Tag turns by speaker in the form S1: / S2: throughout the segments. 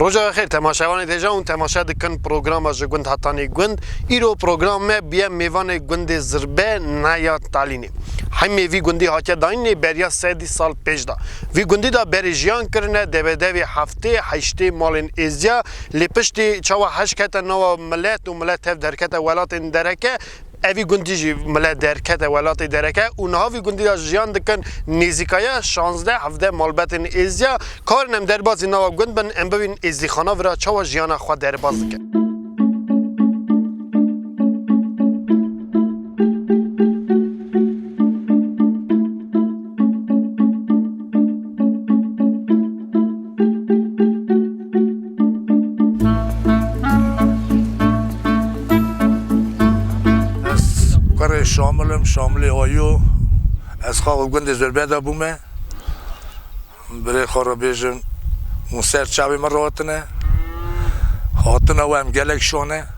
S1: Roja xêr temaşevanê deja ûn temaşe dikin programa ji gund hatanê gund. Îro program me biye mêvanê gundê Zirbe Neya Talînê. Himê vî gundî hatiye dayînê beriya sedî sal pêş de. Vî gundî de berê jiyan kirine debedevê heftê, heştê malên êziya lê piştî çawa heşk hete nawa milet û milet tev derkete welatên dereke, Evî gundî jî mile derkete welatê dereke û niha vî gundî de jiyan dikin nêzîkaye şazdeh hevdeh malbetên êzdiya. Karin em derbazî nava gund bin em bibînin êzdîxana vira çawa jiyana xwe derbaz dike.
S2: Ez kurê Şamil im, Şamilê Ayo. Ez xwe li gundê Zirbe de bûme. Birê xwe re bêjim hûn ser çavê min re hatine. Hatina we em gelek şon e.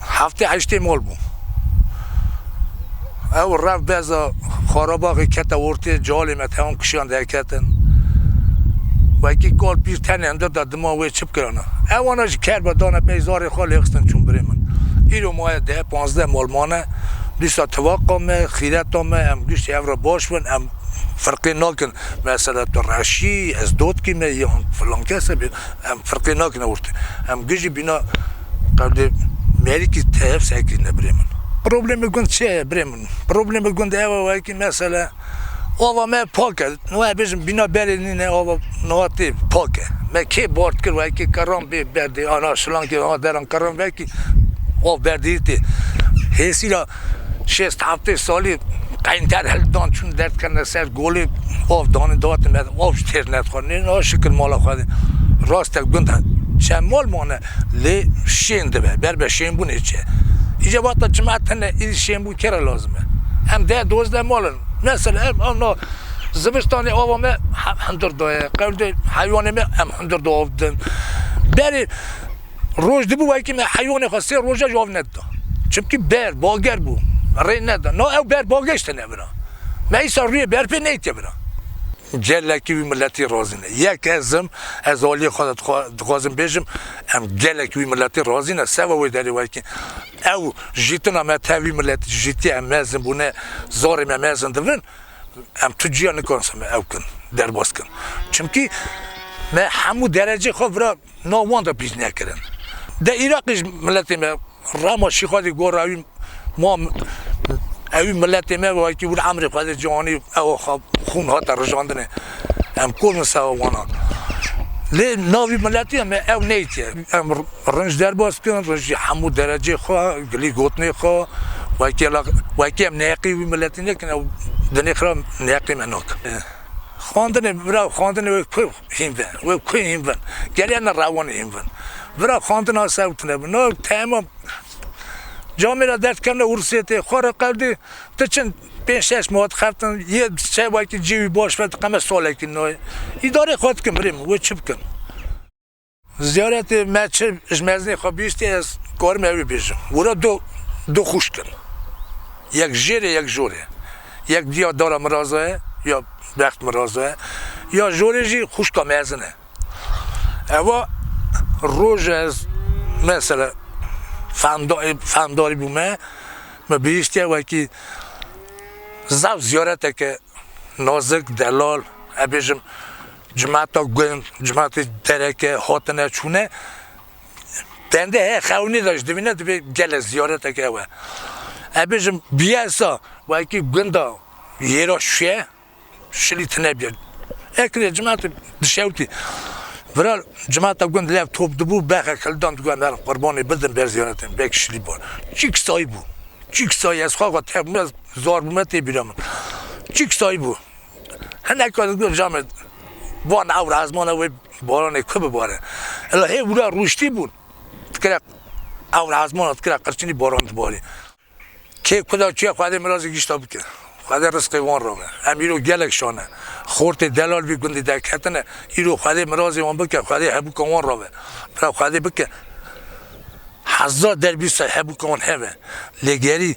S2: Heftê heştê mal bû. Ew reft beza Xarabaxê kete ortê, cealê me tewam kişiyan derketin. Wekî kal pîr tenê hundir da dima wê çi bikirana. Ewana jî ker be dane pey zarê xwe lê xistin çûn birê min. Îro maye deh, panzdeh mal mane. Dîsa tivaqa me, xîreta me em giştî ev re baş bin. Em firqê nakin mesela tu reş î, ez dotkî me yan filankes e bê. Em firqê nakin ortê. Em gijî bîna. Qebli merîkî tev sekirîne birê min. Problemê gund çi ye birê min? Problemê gund ew e weke mesela ava me pak e, niha ez bêjim bîna berê nîne ava niha tê pak e. Me kê bard kir weke kerran bê berdê ana şilankê ana deran kerran vekî av berdêyî tê. Hêsîla şêst heftê salî qeynter hildan çûn der dikirine ser golê av danê dihatin me av jî têr nedixwarîn nê şikir mala xwe de rast e gund çend mal mane lê şên dibe ber be şênbûnê çi ye îca vate çima tune îdî şênbûn kê re lazim e em deh dozdeh mal in mesela ev ewna zivistanê ava me hundir daye qewdê heywanê me em hundir da av didin berê Roj dibû wekî me heywanê xwe sê roja ji av nedida. Çimkî ber, bager bû. Rê neda. Na ew ber bageşte nevira. Me îsa rûyê ber pê neytê vira. Gelekî wî miletî razî ne. Yek ez im, ez aliyê xwe de dixwazim bêjim, em gelekî wî miletî razî ne. Seba wê derê wekî ew jîtina me tev wî miletî dijîtiye, em mezin bûne, zarê me mezin dibin, em tu ciya nikarin ser me ew kin, derbas kin. Çimkî me hemû derecê xwe vira. Nav wan de bîr nekirin. Dê Îraqê ji miletê me Rama Şîxalî gor ewî ma ewî miletê me wekî wir emrê Xwedê ciwanî ew xwe xûn hate rijandinê. Em kol in seba wan a. Lê navî miletê me ew neytye. Em rinc derbas bikin, rinc jî hemû derecê xwe, gilî gotinê xwe wekî wekî em neqî wî miletê nekin ew dinê xira neqî me nakin. Xwendinê bira xwendinê wê ku hîn be, wê ku hîn bin. Gelê em ne rewanê hîn bin. Bira xwendin a ser witine bi. No tema camê ra der dikevne Ûrûsiyê tê xwe re qewdî tu çin pênc şeş ma dixebtin yê çewekî cî wî baş ve diqeme salekî noyê îdareyê xwe dikin birê min wê çi bikin. Ziyaretê me çi ji mezinê xwe bihîstiye ez karim ew ê bêjim. Wira du du xwişk in. Yek jêrê yek jorê. Yek diya dara min ra za ye ya bext min ra za ye. Ya jorê jî xwişka mezin e. Eva roja ez mesela fehmda fehmdarî bûme min bihîstiye wekî zaf ziyareteke nazik, delal, ez bêjim Cimata gund, cimatê dereke hatine çûne bendê heye xewnî de jî divîne divê gelek ziyareteke ew e. Ez bêjim biyesa wekî gunda yêra şûye şilî tine biya. Ekirê cimatê dişewtî viral cimata gund lev top dibû bexe kildan digot em herin qurbanê bidin ber ziyaretê vekî şilî bû. Çîk sayî bû. Çîk sayî ez xwe xwe tevbûme zar bûme tê bîra min. Çîk sayî bû. Hinek ka digot Camed van ewr ezmana wê baranê ku bibare. Ila hê wira rûştî bûn dikire ewr ezmana dikire qirçinî baran dibarî. Kê ku da çûye Xwedê mirazê gişta bike. Xwedê risqê wan ra be. Em îro gelek şane. Xortê delal vî gundî derketine. Îro Xwedê mirazê wan bike. Xwedê hebûka wan ra be. Bira Xwedê bike heza derbî ser hebûka wan hebe. Lê gerî.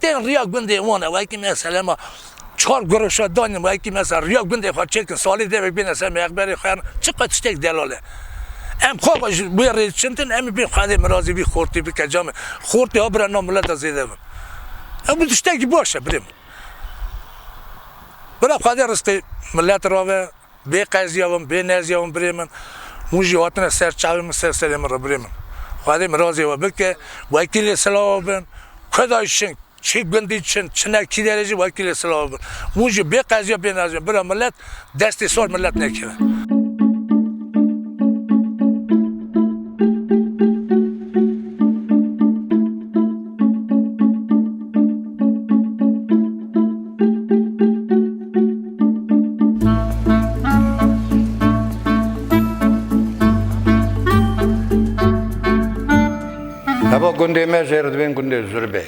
S2: Tên riya gundê wan e wekî me selema çar guroşa danîn wekî me ser riya gundê xwe çêkin salê devek bêne ser mexberê xwe em çi qe tiştek delal e em xwe xwe ji wê rê çintin em ê bê xwedê mirazê vî xortê bike ca min xortê ha bire na mileta zêde bin ew bi tiştekî baş e birê min bire xwedê ristê milet rave. Bê qeziya win, bê neziya win birê min. Hûn jî hatine ser çavê min, ser serê min re birê min. Xwedê mirazê we bike, wekî lê silav bin. Kuda şing, çi gundî çin, çine kî derê jî wekî lê silav bin. Hûn jî bê qeziya bê neziya bira milet, destê sor milet nekeve.
S3: Heva gundê me jê re dibên gundê Zurbê.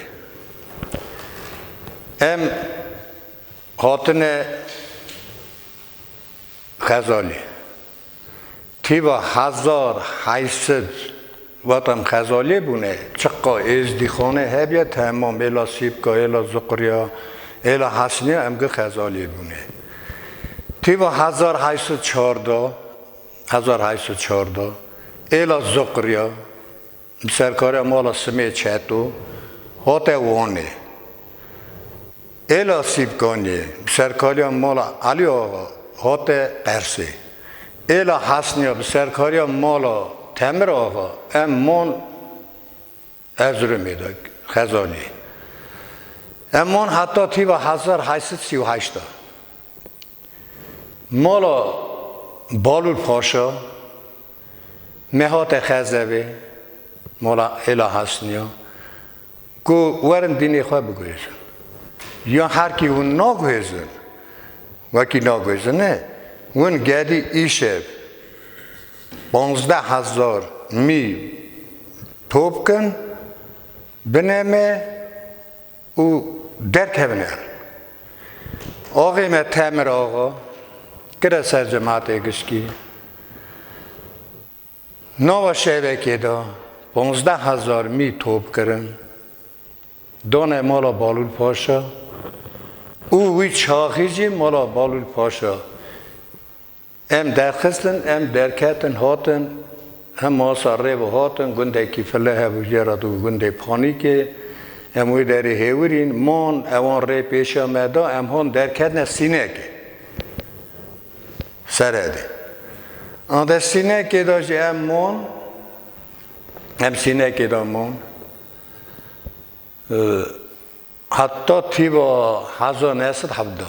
S3: Em hatine Xezalî. Tîva hezar heşt sed watan Xezalî bûne, çiqa Êzdîxanê hebye, tema mêla Sîpka, hêla Zuqriya, hêla Hesniya em gi Xezalî bûne. Tîva hezar heşt sed çarda, hezar heşt sed çarda, hêla Zuqriya, Bi serkariya mala Simê Çeto hate Wanê. Êla Sîpkaniyê bi serkariya mala Elî Axa hate Qersê. Êla Hesniya bi serkariya mala Temir Axa em man Erziromê de Xezaniyê. Em man heta tîva hezar heşt sed sî û heşt de. Mala Balûr Paşa nehate Xezevê, mala Êla Hesnîya ku werin dînê xwe biguhêzin. Ya herkî hûn naguhêzin, wekî naguhêzin ne, hûn gedî îşev panzdeh hezar mî top kin, bine me, û derkevin er. Axê me Temir Axa kire ser Cematê Gişkî. Nava şevekê de panzdeh hezar mî top kirin, dane mala Balûl Paşa û wî çaxî jî mala Balûl Paşa Em derxistin, em derketin hatin, hem masa rê ve hatin, gundekî file hebû jê re dû gundê Panîkê, em wê derê hêwirîn, man, ewan rê pêşiya me da, em hat derketine Sînekê, Seredê. Ande Sînekê de jî em man, em Sînekê de man, heta tîva heza neh sed hevda.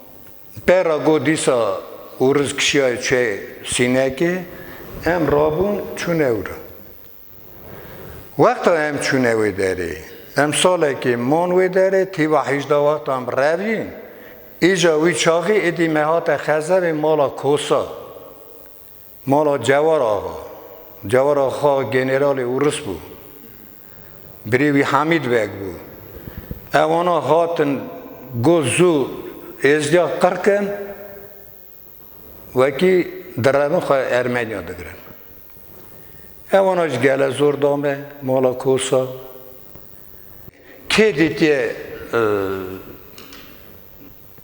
S3: Pera ku dîsa Ûriz kişiyaye çûye Sînekê, em rabûn çûne wir. Wexta em çûne wê derê, em salekê man wê derê, tîva hîjda wextan bi rev yên, îca wî çaxî êdî me hate Xezevê mala Kosa. Mala Cewar Axa, Cewar Axa generalê Urus bû. Birê wî Hamîd Beg bû. Ew ana hatin go zû êzdiya qirkin wekî direvin xwe Ermeniya digirin. Ew ana ji gele zor da me mala Kosa. Kê dîtiye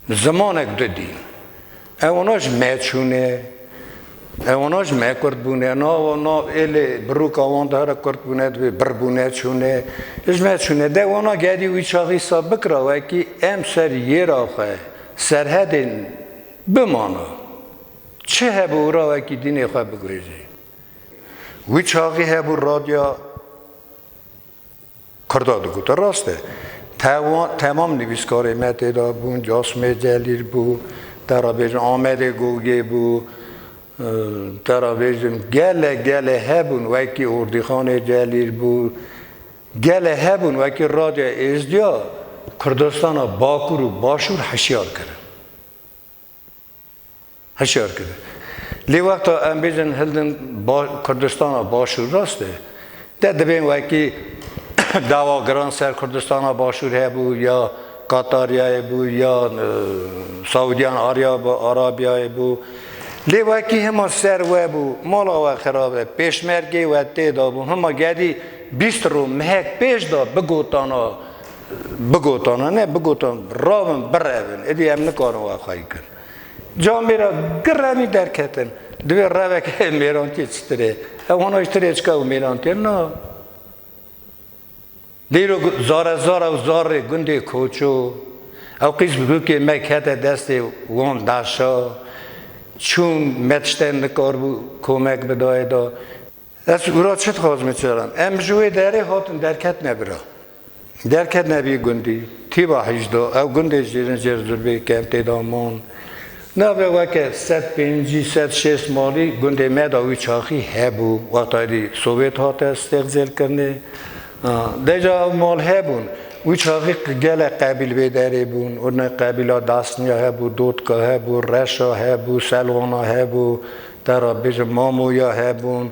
S3: Zimanek du dîn. Ew ona ji me çûn e. Ew ona ji me kurd bûn e. Na wan na êlê biroka wan di here kurd bûne dibê bir bûne çûn e. Ji me çûn e. De wana gerî wî çaxî saf bikira wekî em ser yêra xwe, serhedên bimana. Çi hebû ora wekî dînê xwe bigurîjî. Wî çaxî hebû radya. Kurda digotin rast e. Temam nivîskarên me tê de bûn, Casmê Celîl bû, te re bêjin Amedê Gogê bû, te re bêjin gelek gelek hebûn wekî Ordîxanê Celîl bû, gelek hebûn wekî Radya Êzdiya Kurdistana Bakur û Başûr hişyar kirin. Hişyar kirin. Lê wexta em bêjin hildin Kurdistana Başûr rast e. Deh dibên wekî dawa giran ser Kurdistana Başûr hebû ya Qataryayê bû ya Saûdiyan Arabiyayê bû. Lê wekî hima ser we bû, mala we xirab e, pêşmergê we tê de bû. Hima gedî bîst rû mehek pêş de bigotana. Bigotana ne, bigotan rabin birevin, êdî em nikarin wan xwe bikin. Ca mêra gi revî derketin, divê reveke mêrantiyê çitir ê? Ew hona ji tirê çika ew mêrantiye na. Dîrok zarezar ew zar rê gundê Koço, ew qîz bi hûkê me kete destê wan daşa, çûn me tiştên nikarbû komek bidayê da. Ez gura çi dixwazim ê çêran. Em ji wê derê hatin derketine bira. Derketine vî gundî. Tîba hîjda. Ew gundê jêrin jêr Zurbê ke em tê de man. Navê weke sed pêncî, sed şêst malî gundê me de wî çaxî hebû. Wexta êdî Sowêt hate stêxcêl kirinê. Deca ew mal hebûn. Wî çaxî gelek qebîl vê derê bûn. Urne qebîla Dasniya hebû, Dotka hebû, Reşa hebû, Selwana hebû. Te re bêjim mamoya hebûn,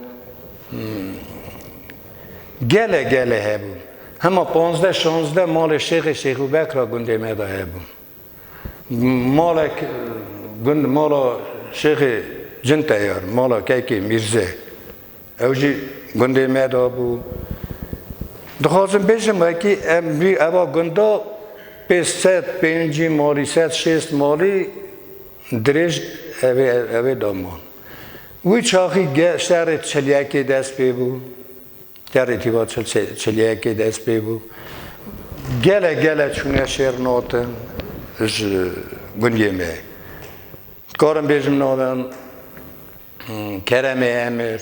S3: gele gele hebûn. Hema panzdeh şanzdeh malê Şêxê Şêxûbek re gundê me de hebûn. Malek gund mala Şêxê Cinteyar, mala kekê Mîrze. Ew jî gundê me de bû. Dixwazim bêjim wekî em vî eva gunda pênc sed pêncî malî sed şêst malî dirêj evê evê de man. Wî çaxî ge şerê çilyekê dest pê bû. Şerê tîva çil çilyekê dest pê bû. Gele gele çûne şêr natin ji gundê me. Dikarim bêjim navên Keremê Emir,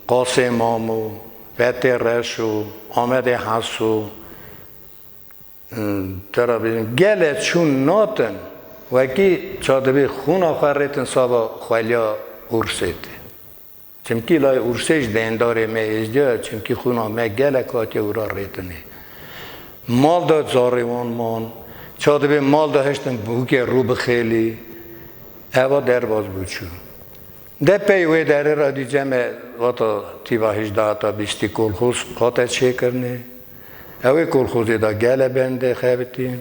S3: Qasê Mamu, Fetê Reşo, Amedê Haso, tera bînin gelê çûn natin wekî ça dibî xûna xwe rêtin saba xwelya Ursê tê. Çimkî lay Ursê ji beyendarê me êzdiya ye, çimkî xwîna me gelek hatiye wira rêtinê. Mal de zarê wan man. Ça dibê mal de hiştin bûkê rû bixêlî. Eva derbas bû çû. De pey wê derê re dîce me vata tîva hejda heta bîstî kolxoz hate çêkirinê. Ewê kolxozê de gele bende xebitîn.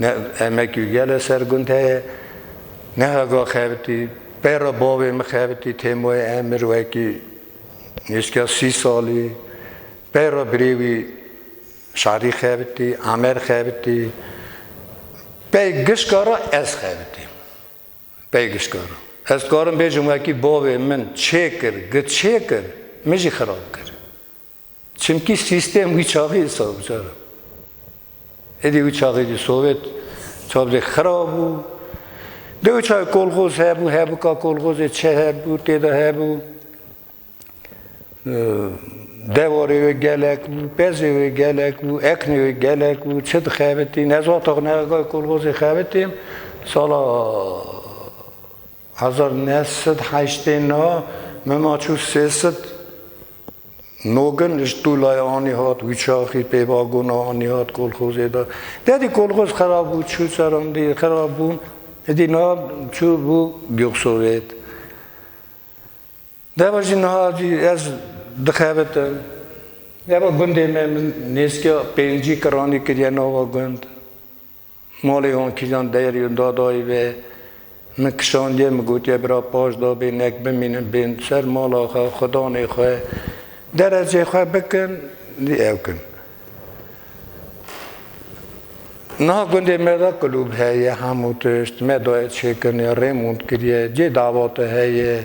S3: Ne emek û gel e ser gund heye, ne heva xebitî. Peyra bavê min xebitî Têmoyê Emir wekî nêzîka sî salî. Peyra birê wî Şarî xebitî, Amer xebitî. Pey gişka re ez xebitî. Pey gişka re. Ez karim bêjim wekî bavê min çêkir, gi çêkir, min jî xirab kir. Çimkî sîstem wî çaxê îsa bû cara. Êdî wî çaxê dî Sovyet çavdê xirab bû. Dê wî çaxê kolxoz hebû, hebika kolxozê çi hebû, têda hebû. Dewarê wê gelek bû, pezê wê gelek bû, eknê wê gelek bû, çi dixebitîn. Ez wextax nexe kolxozê xebitîm, sala Hezar û neh sed heştê na mema çû sê sed nogin li ji tûlaya anî hat wîçaxî pê vagona anî hat kolxozê de. Tedî kolxoz xerab bû çû serandî xerab bûn edî niha çû bû Gyoxovêt. Deva jî niha edî ez dixebitim. Deva gundê me min nêzîkîya pêncî kiranî kiriye nava gund. Malê wan kîjan deyr yo da dayê ve. Min kişandiye min gotiye bira paş da bê nek bimînin bên ser mala xwe xudanê xwe derecê xwe bikin dî ew kin. Niha gundê me de kulûb heye hemû tişt me daye çêkirine rêmûnt kiriye cê dawate heye.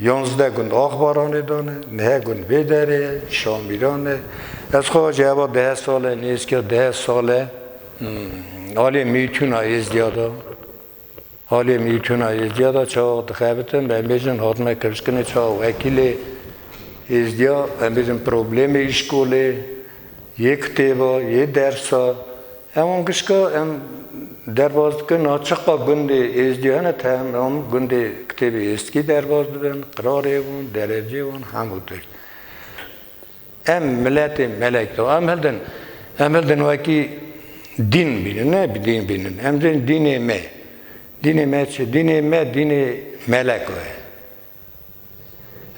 S3: Yanzdeh gund Axbaranê de ne, neh gund vê derê ye, Şamîran e. Ez xwe ji heva deh sale nêzîka deh sale aliyê mîtûna Êzdiya de, aliyê mîtûna Êzdiya de çawa dixebitim, em bêjin hatime kevşkinê çawa wekîlê Êzdiya, em bêjin problemê îşkolê, Yê kitêba, yê dersa, em an gişka em derbas dikin niha çiqas gundê êzdî hene tehm em an gundê kitêbê êzdkî derbas dibin, qirarê wan, derecê wan hemû tişt. Em miletê melek de em hildin em hildin wekî dîn bînin ne dîn bînin em dên dînê me. Dînê me çi? Dînê me dînê melek o ye.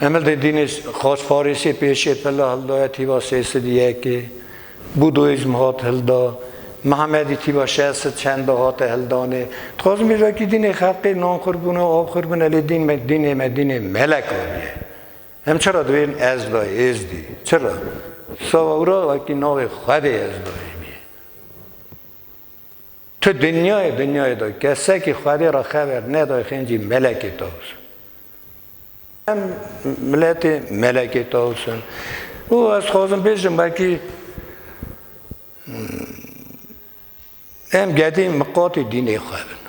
S3: Emel Dêdînês xasparêsê pêşê pilla hildoya tîva sê sid yekê, bûdoîzm hat hilda, Mihemedî tîva şeş sid çend de hate hildanê. Dixwazin bêjim wekî dînê xelqê nanxwir bûne, avxwir bûne lê dîn me dînê me dînê melek aniye. Em çi ra divêjin Ezda, Êzdî? Çi ra? Sawa wira wekî navê Xwedê Ezda ê. Tu dinyayê dinyayê de kesekî xwedê re xever neday xencî melekê tavus. Em miletê melekê tavus in. Û ez xwazim bêjim belkî em gedî miqatê dînê xwe bin.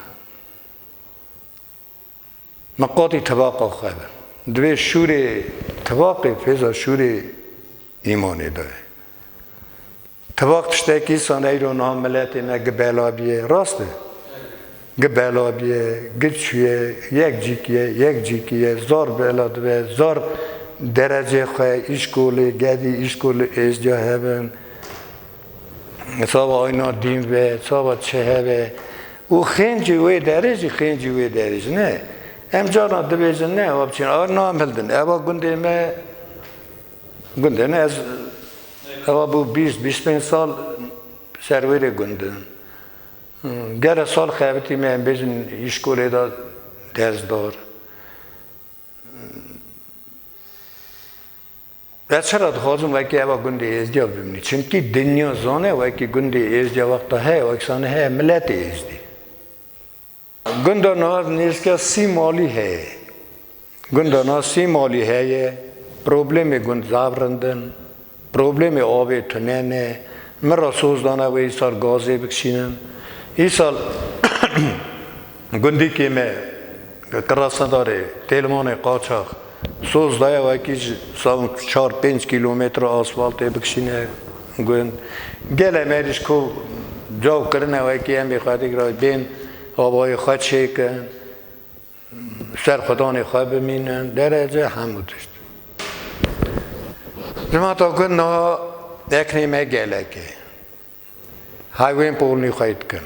S3: Me qatî tibaqa xwe be. Divê şûrê tibaqê fêza şûrê îmanê bibe. Tibaq tiştekî îsan eyro niha miletê me gi bela biye, rast e? Gi bela biye, gi çûye, yek cîk ye, yek cîkî ye, zar bela dibe, zar derecê xwe, îşkolê, gedî îşkolê êzdiya hebin. Sava ayna dîn be, sava çehe be û xêncê wê derê jî xêncê wê derê jî ne. Em carna dibêjin ne ewa biçin ayna em hildin. Ewa gundê me gundê ne ez ewa bû bîst bîst pênc sal ser wê rê gundim. Gere sal xebitî me em bêjin îşkolê de ders dar. Ez çira dixwazim wekî eva gundê Êzdiya bimînî? Çimkî dinya zane wekî gundê Êzdiya wexta heye weksanî heye miletê Êzdî. Gunda nav nêzîka sî malî heye. Gunda nav sî malî heye. Problemê gund zaf rind in. Problemê avê tune ne. Min re soz dane wê îsal gazê bikişînin. Îsal Gundikê me li Qirasedarê Têlmanê qaçax soz daye wekî ji sal çar pênc kîlometre asfaltê bikişîne gund. Gelê me êrîş ku caw kirine wekî em bê xwedîk re bên avayê xwe çêkin, serxwedanê xwe bimînin, derece hemû tişt. Ji mata gund niha eknê me gelekê hewên polnî xwe yê dikin.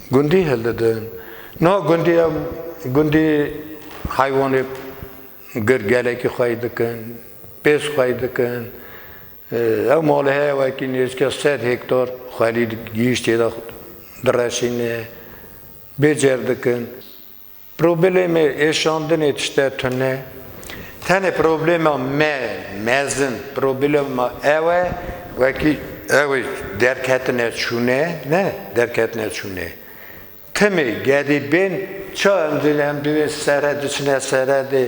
S3: Gundî hildidin. Niha gundî em gundî heywanê gir gelekî xweyî dikin, pêz xweyî dikin. Ew malê heye wekî nêzîka sed hektar xwelî gihîştê de direşîne, bê cêr dikin. Problemê êşandinê tişte tune. Tenê problema me mezin problema ew e wekî ew ê derketine çûne ne derketine çûne. Timî gedî bên ça em dîn em divên sere diçine seredê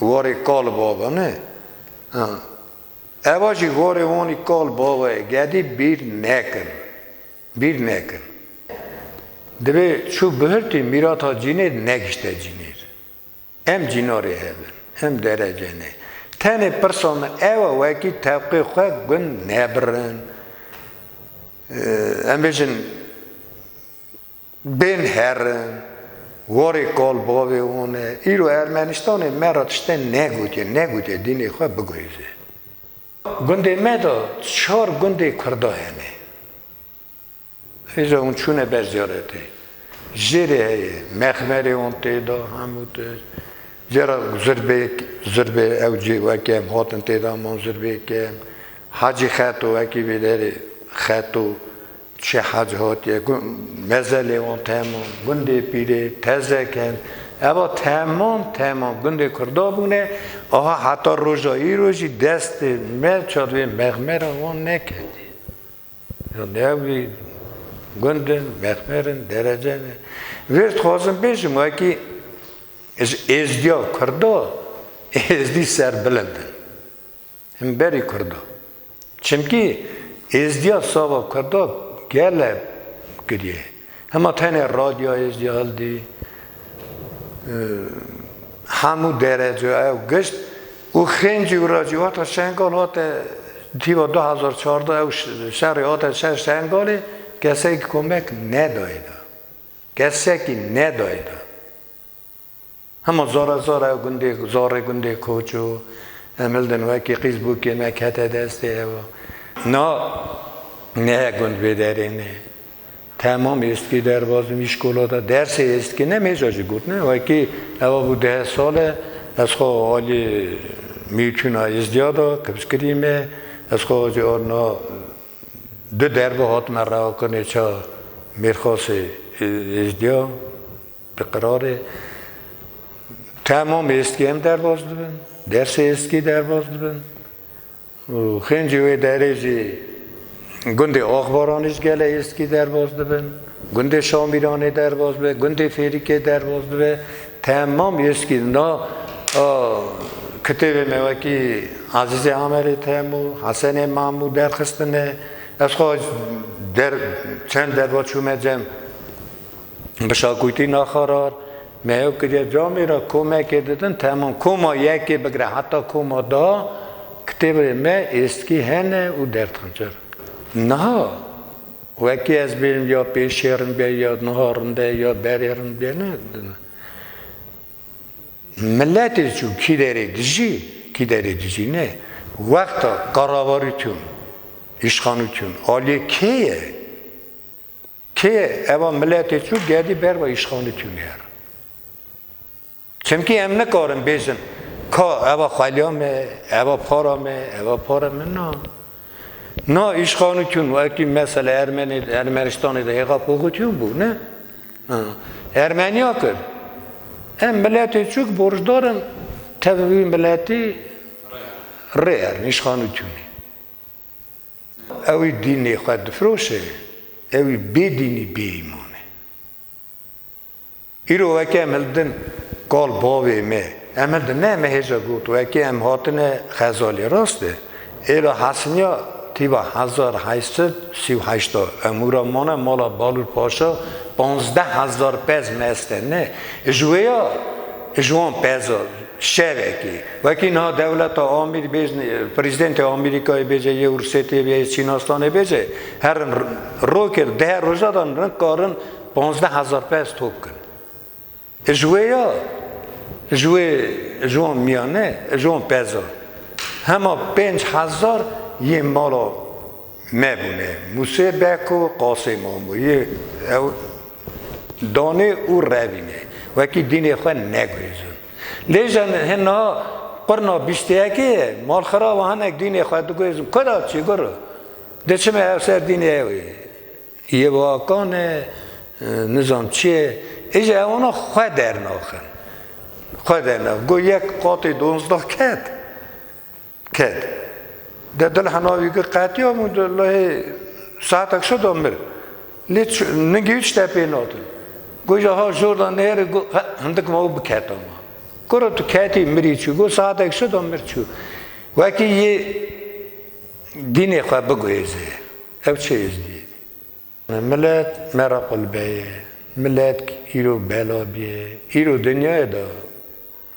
S3: warê kal bava ne. Ewa jî warê wanî kal bava ye gedî bîr nekin. Bîr nekin. Divê çû bihirtî mîrata cînêr negişte cînêr. Em cînarê hev in. Em derece ne. Tenê pirsa min ew e wekî tevqê xwe gund nebirin. Em bêjin bên herin, warê kal bavê wan e. Îro Ermenistanê me re tişte negotiye, negotiye dînê xwe biguhêze. Gundê me de çar gundê Kurda hene. Hêza hûn çûne ber ziyaretê. Jêrê heye, mexmerê hûn tê de, hemû tişt. Jêra zirbê, zirbê ew cê wekî em hatin tê de, em hûn zirbê kem. Hacî Xeto wekî vê derê, Xeto Çi hez hatiye ku mezelê wan tema gundê pîrê, tezekan, eva temam temam gundê kurda bûne aha heta roja îro jî destê me çar vê mexmera wan neketî. Yan newî gund in, mexmer in, derece ne. Vê dixwazim bêjim wekî ji êzdiya kurda êzdî serbilind in. himberî kurdan. Çimkî êzdiya sava kurda gele kiriye. Hema tenê radyoya êzdiya hildî, hemû dereceya ew gişt û xêncî û racîhata Şengal hate tîva du hezar çardeh ew şerê hate ser Şengalê kesekî komek nedayê da. Kesekî nedayê da. Hema zora zora ew gundê zorê gundê koç û Emildin wekî qîz bû kê me kete destê ew. Na ne he gund vê derê ne. Temam êstkî derbaz im îşkolada dersê êstkî ne mêja jî got ne wekî ewa bû deh sal e ez xwe alî mîtûna êzdiya da kibz kirî me ez xwe ajê a na du derve hatime rewa kirinê ça mêrxasê êzdiya. Bi qirarê temam êskî em derbas dibin, dersê êskî derbas dibin û xêncî wê derê jî gundê Axbaranê ji gele êskî derbas dibin, gundê Şamîranê derbas dibe, gundê Fêrîkê derbas dibe, temam êskî na a kitêbê me wekî Ezîzê Amerê Temo, Hesenê Memo derxistine. Ez xwe der çend derva çûme cem. Bi şakûtî naxarar me hev kiriye camê re komekê didin temam koma yekê bigire heta koma da kitêbê me êskî hene û derdxincir. Niha wekî ez bêjim ya pêşê rinbe ya niha rinbe ya berê rinbe ne miletê çû kî derê dijî kî derê dijî ne wexta qaravarî tûn îşxanû tûn aliyê kê ye? Kê eva miletê çû gedî ber ve îşxanî tûner. Çimkî em nikarin bêjin ka eva xweliya me, eva para me, eva para me na. Na îşxanî tûn wekî mesela Ermenî Ermenistanê de hêxa poxutîn bû ne? Ermeniya kir. Em miletê çûk borcdar in tevî wî miletî rê erin îşxanî tûnê. Ewî dînê xwe difiroşe, ewî bê dînî bê îman e. Îro weke em hildin kal bavê me, em hildin ne me hêja got weke em hatine xezalê rast e. Êra Hesniya tîba hezar heşt sed sî û heşt a hemû re mane mala Balûr Paşa panzdeh hezar pez mest e ne ji wê ya ji wan pez a Şevekê, wekî niha dewleta Amîr bêj, Prezîdentê Amerîkayê bêje yê Ursetê bê, yê Çînastanê bêje, herin rokêt di her roja de nikarin panzdeh hezar pez top bikin. Ji wê ya, ji wê ji wan mîyane, ji wan pezan hema pênc hezar yê mala Me bûne. Musê Beko qasê Mamo yê ew danê û revîne. Wekî dînê xwe negurîzin. Lê jin hin na qurna bîşteyekê ye. Malxirav a hinek dînê xwe digurîzin. Kura çîgur diçime hev ser dînê ew ê. Yewakan e, nizam çi ye. Îje ewana xwe dernaxin. Xwe dernaxin. Got yek qatê donzdeh ket. Ked. De dil hena wî kir qetiya min got lehê saetek şo da mir. Lê ningî hiç şte pê natin. Got ja ha jor da nêrê got he hindik ma û biketa ma. Kura tu ketî mirî çû got saetek şo da mir çû. Wekî yê dînê xwe biguhêze ev çi êzdî. Milet ne re qulbe ye. Milet îro bela bîye. Îro dinyayê de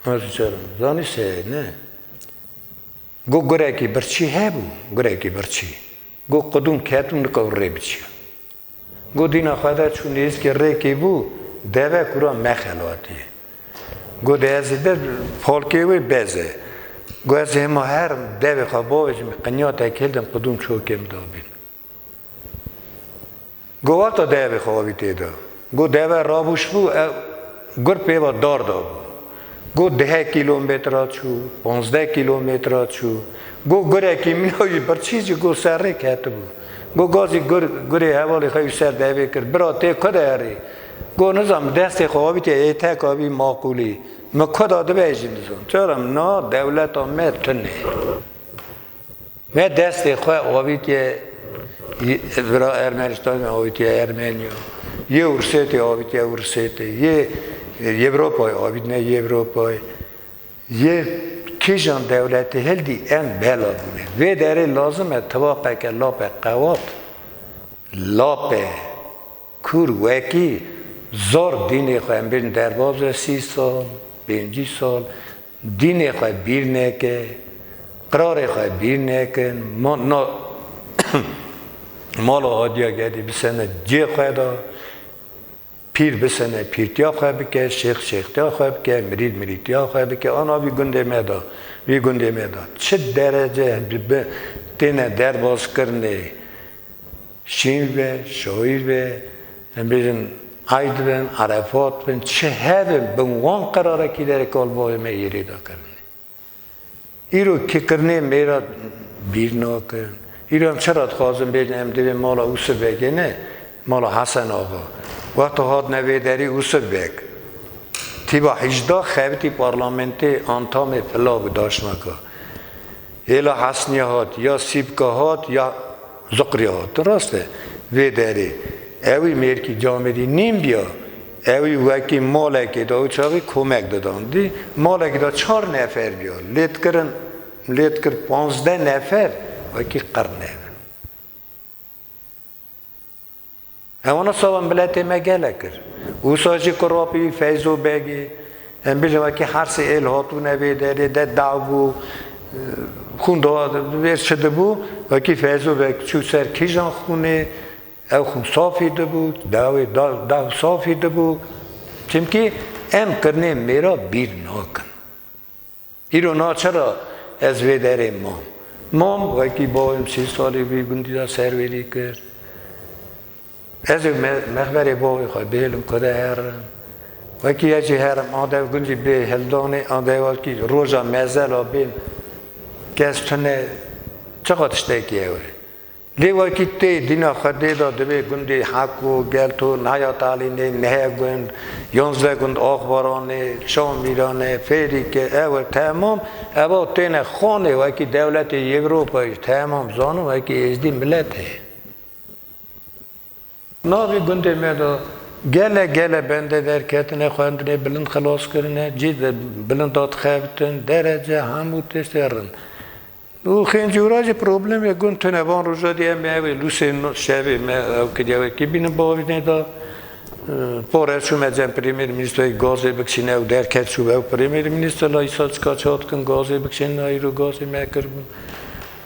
S3: ma ji çar in. Zanî se ye ne. Got gurekî birçî hebû, gurekî birçî. Got qudûn ket û nika rê biçiya. Got dîna xwe de çû nêzîkê rêkê bû, deve kûra mexelatiye. Got ez ê de falkê wê bez e. Got ez ê hema her devê xwe bavêjim, qinya te kêl din qudûn çokê min de bînin. Go wata devê xwe avî tê de. Go deve rabûş bû ew gur pê ve dar dabû. Go dehê kîlometra çû, pazdeh kîlometra çû. Go gurekî mîna jî birçî jî go serrê ketibû. Go gazî gur gurê hevalê xwe jî ser devê kir. Bira tê ku de herî? Go nizan bi destê xwe avî tê ê tek avî maqûlî. Min ku da dibe jî nizan. Çaram na dewleta me tune. Me destê xwe avîtiye vira Ermenistanê avîtiye Ermeniya, yê Ursêtê avîtiye Ursêtê, yê Yewropayê avîtine Yewropayê. Yê kîjan dewletê hildî em bela bûne. Vê derê lazim e tivaqeke lape qewat, lape kûr wekî zor dînê xwe em bêjin derbazê sî sal, pêncî sal, Dînê xwe bîr neke, qirarê xwe bîr nekin, na mala Hadiya Gedî bisene cê xwe de, pîr bisene pîrtiya xwe bike, şêx şêxtiya xwe bike, mirîd mirîtiya xwe bike, ana vî gundê me de, vî gundê me de çi derece têne derbazkirinê Şîr be, şoîr be, em bêjin ayd bin, arefat bin, çi hebe bin wan qerarekî de rê kalboyê me yê rê da kirine. Îro kikirnê mêra bîr nakin. Îro em çira dixwazin bêjin em divê mala Usif Begê ne, mala Hesen Axa. Wexta hatine vê derî Usif Beg tîba hîjda xebitî parlamentê Antamê Pilavî daşnaka. Hêla Hesnîya hat, ya Sîbka hat, ya Ziqrîya hat. Ti rast e, vê derê ewî mêrkî camêrî nîn biya, ewî wekî malekê de û çavî komek didan. Dî malekê de çar nefer biya, lê dikirin, lê dikir panzdeh nefer wekî qir nebin. Ewa na sava miletê me gele kir. Usa jî ku rapî wî Feyzo Beg ê. Em bijîn wekî hersê êl hatûne vê derê de daw bû, xûn da vêr çi dibû, wekî Feyzo Beg çû ser kîjan xûnê, ew xûn safî dibû, dawê daw safî dibû. Çimkî em kirnê mêra bîr nakin. Îro na çira ez vê derê mam. Mam wekî bavê min sê salî bû gundî de serwêrî kir. Ez ê mexberê bavê xwe bihêlim ku de herim. Wekî ez jî herim a dev gundî bê hildanê a dev wekî roja mezela bên kes tune çiqa tiştekî ewre. Lê wekî tê dîna xwedê de divê gundê Heko, Gelto, Naya Talînê, Nehe Gund, Yonze Gund, Axbaranê, Şamîranê, Fêrîke, ewe temam eva têne xanê wekî dewletê Yewropayê ji temam zanin wekî êzdî miletê. Navê gundê me de gele gele bende derketine, xwendine, bilind xilas kirine, cî de bilind da dixebitin, derece, hemû tiştê rind. Û Xêncûra jî problemê gund tune. Van roja dî em ê ew ê lûsê şevê me ew kiriya wekî bînin bavînê de. Par ez çûme cem premêrmînîstroyê gazê bikişîne ew derket çû ew premêrmînîstor la îsa çika çad dikin gazê bikişînin, îro gazê me kiribûn.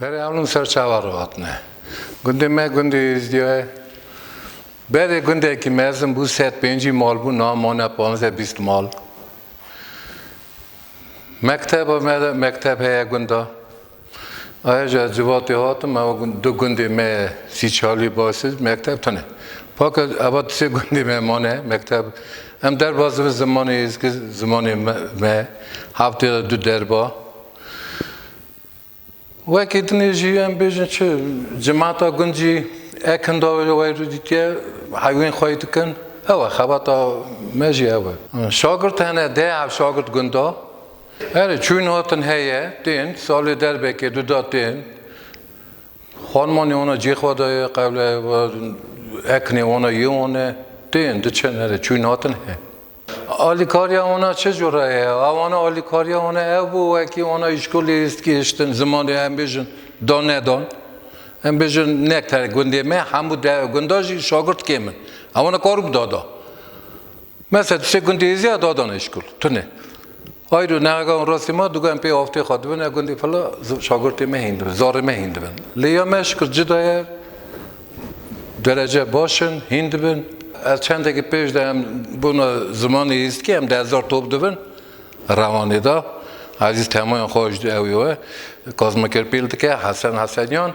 S4: Berê Alun ser çawa re hatine. Gundê me gundê Êzdiya ye. Berê gundekî mezin bû sed pêncî mal bû niha mane panzdeh bîst mal. Mekteba me de mekteb heye gunda. Aya ji ez civatê hatim ew du gundê me ye sî çalî basîz mekteb tune. Paka eva di sê gundê me mane mekteb. Em derba zivin zimanê êzki zimanê me heftê de du derba. Wekî dinê jî em bêjin çi cemata gund jî ekinda wê rû dîtiye hewên xwe yî dikin ew e xebata me jî ew e. Şagirt hene dê hev şagirt gunda erê çûyîn hatin heye tên salê derbekê du da tên xanima nê wana cê xwe da ye qewle ekinê wana yê wan e tên diçin erê çûyîn hatin he. Alîkariya wana çi cure ye? A wana alîkariya wana ev bû wekî wana îşkolê hîst gihiştin zimanê em bêjin dan nedan. Em bêjin ne te gundê me hemû de gunda jî şagirt kêm in. Ew wana kar û bi da da. Mesela tu sê gundê hêzî ya dadana îşkol. Tune. Hayr û neaga û rastî ma dûgan pê avtê xwe dibin e gundî fila şagirtê me hîn dibin, zarê me hîn dibin. Lê ya me ji kir cida ye, derece baş in, hîn dibin. Ez çendekî pêş de em bona zimanê Îzidkî em di hezar top dibin Rewanê de. Ezîz temoyên xwe ji di ewê we Kazim Kirpîl dike, Hesen Hesenyan.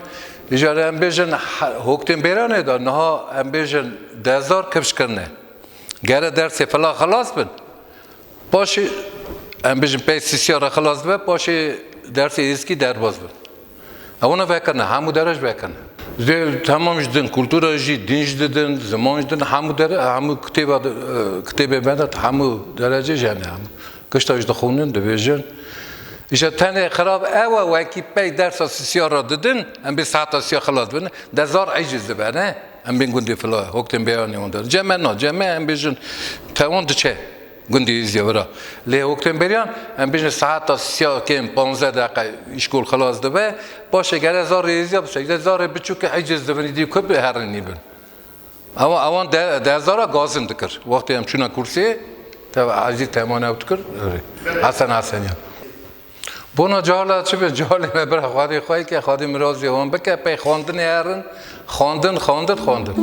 S4: Îcar em bêjin hoktên bêranê de niha em bêjin di hezar kifş kirine. Gere dersê fila xilas bin. Paşê em bijin pey sîsîya re xilas dibe paşê dersê êzikî derbas dibe. Ew ne vekirine hemû dere ji vekirine. Dê temam ji din kultura jî dîn ji didin ziman ji din hemû dere hemû kitêba kitêbê me de hemû derecê ji hene hemû kişta ji dixwînin dibêjin. Îşa tenê xirab ew e wekî pey dersa sîsîya re didin em bê seheta sîya xilas dibin dezar eciz dibe ne. Em bên gundê fila ye, hok tên beyanê wan de. Ceme na, ceme em bêjin tewon diçe gundê Êzî wira. Lê hok tên beriyan, em bêjin seheta siya kêm panzdeh deqe îşkol xilas dibe, paşê gere zarê Êzî ya bisekre, zarê biçûkê ecêz dibin îdî ku biherînî bin. Ewa ewan de de zara gazin dikir. Wextê em çûna kursiyê, teve Êzî temane ew dikir, erê. Hesen Hesenyan. Bona cala çi be calê me bira xwedê xwe ke xwedê mirazê wan bike pey xwendinê herin xwendin xwendin xwendin.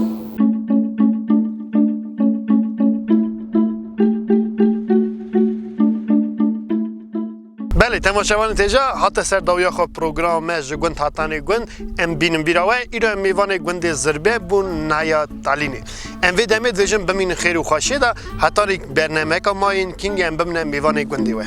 S1: Belê temaşevanê têja hate ser dawiya xwe programa me ji gund hatanê gund em bînin bîra we îro em mêvanê gundê Zirbê bûn naya talînê Em vê demê dibêjin bimînin xêr û xweşiyê de heta rê bernameyeka ma yên kîngê em bimne mêvanê gundê we.